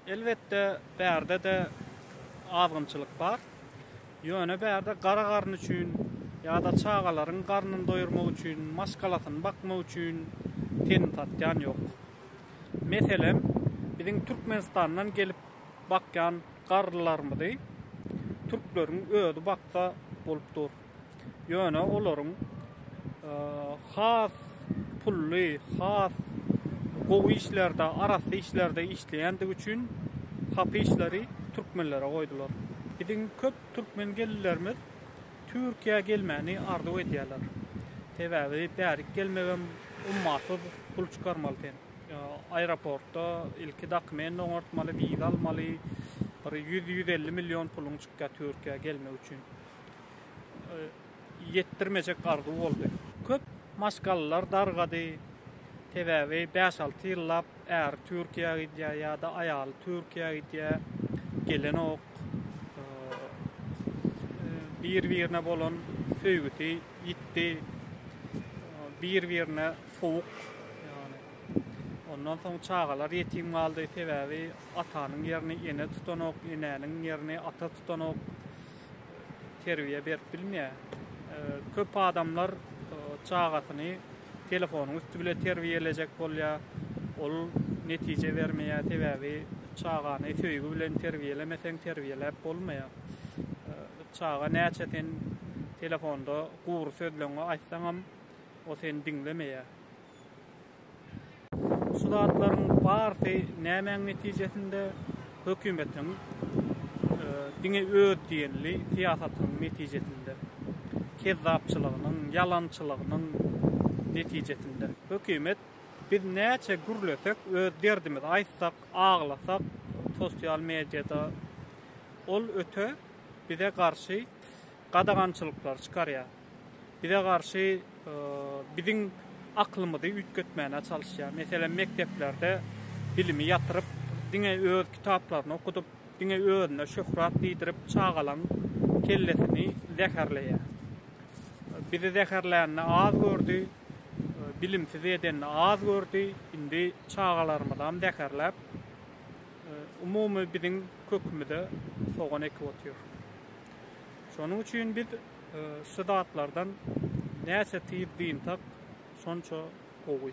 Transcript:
Elbetde, bärde-de azgynçylyk bar. Ýöne bärde gara garyn üçin ýa-da çagalaryň garnyny doýurmak üçin, maşgalasyny bakmak üçin tenini satýan ýok. Meselem, biziň Türkmenistandan gelip bakýan garrylarymyzy türkleriň özi baksa bolup dur. Ýöne olaryň has pully, has gowy işlerde, arassa işlerde işleýändigi üçin hapy işleri türkmenlere goýdular. Biziň köp türkmen gelinlerimiz Türkiýä gelmäni arzuw edýärler. Sebäbi bärik gelmegem ummasyz pul çykarmaly sen. Aeroportda ilki dokument oňartmaly, wiza almaly, bir ýüz, ýüz elli million puluň çykýar Türkiýä gelmek üçin. ýetdirmejek arzuw boldy. Köp maşgalalar dargady, sebäbi bäş-alty ýyllap äri Türkiýä gidýär ýa-da aýaly Türkiýä gidýär, gelenok. Bir-birine bolan söýgüsi ýitdi, bir-birine sowuk, ýagny ondan soň çagalar ýetim galdy, sebäbi atanyň ýerini ene tutanok, enäniň ýerini ata tutanok. terbiýe berip bilmeýär. Köp adamlar çagasyny telefonyň üsti bile terbiýelejek bolýar. Ol netije bermeýär, sebäbi çagany söýgi bilen terbiýelemeseň terbiýeläp bolmaýar. Çaga näçe sen telefonda gury sözleňňi aýtsaňam o seni diňlemeýär. Şu zatlaryň barsy nämäň netijesinde? Hökümetiň diňe öz diýenli syýasatynyň netijesinde, kezzapçylygynyň, ýalançylygynyň netijesinde. Hökümet biz näçe gürlesek, öz derdimizi aýtsak, aglasak, sosial mediada ol öte bize garşy gadagançylyklary çykarýar. Bize garşy biziň aklymyzy üýtgetmäne çalyşýar. Meselem, mekdeplerde bilimi ýatyryp, diňe öz kitaplaryny okudyp, diňe özüne şöhrat diýdirip, çagalaň kellesini zäherleýär. Bizi zäherlänini az gördi, bilimsiz edenini az gördi, indi çagalarymyzam zäherläp, umumy biziň kökümize sogan ekip otyr. Şonuň üçin biz şu zatlardan näçe tiz dynsak, şonça gowy.